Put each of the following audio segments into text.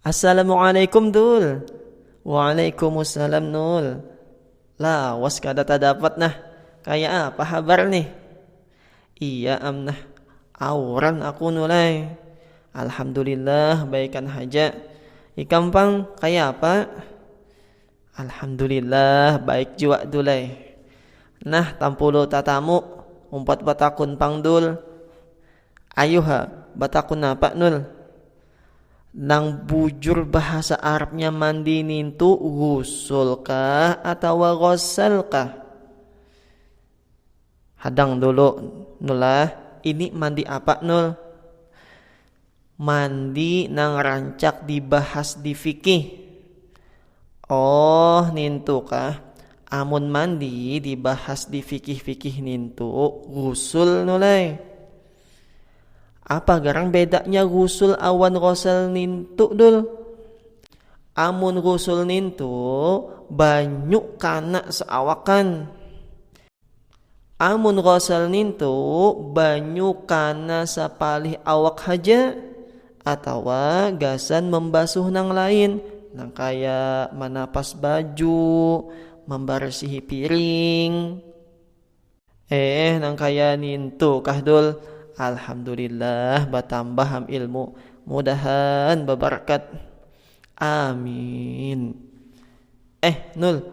Assalamualaikum dul Waalaikumsalam nul Lawas kada tadapat nah Kaya apa habar nih Iya am nah Auran aku nul ai Alhamdulillah baikan haja Ikam pang kaya apa Alhamdulillah baik jua dul ai. Nah tampulu tatamu umpat batakun pang dul. Ayuh ha batakun napa nul. Nang bujur bahasa arabnya mandi nintu gusul kah atawa ghassal kah. Hadang dulu nul ah ini mandi apa nul. Mandi nang rancak dibahas di fikih. Oh, nintu kah. Amun mandi dibahas di fikih-fikih nintu ghusul nu lai. Apa garang bedanya ghusul awan ghosal nintu dul? Amun ghusul nintu banyu kana seawakan. Amun ghasal nintu banyu kana sapalih awak haja atawa gasan mambasuh nang lain nang kaya manapas baju, mambarsihi piring eeh nang kaya nintu kah dul. Alhamdulillah batambah am ilmu mudahan babarkat. Aamiin. Eh Nul,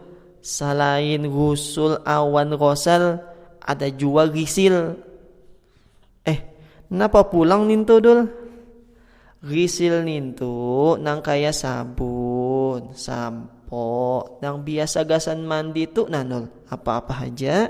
salain gusul awan rosal ada jua risil. Eh, napa pulang nintu Dul? Risil nintu nang kaya sabun, sampo, nang biasa gasan mandi tu nah Nul, apa-apa haja.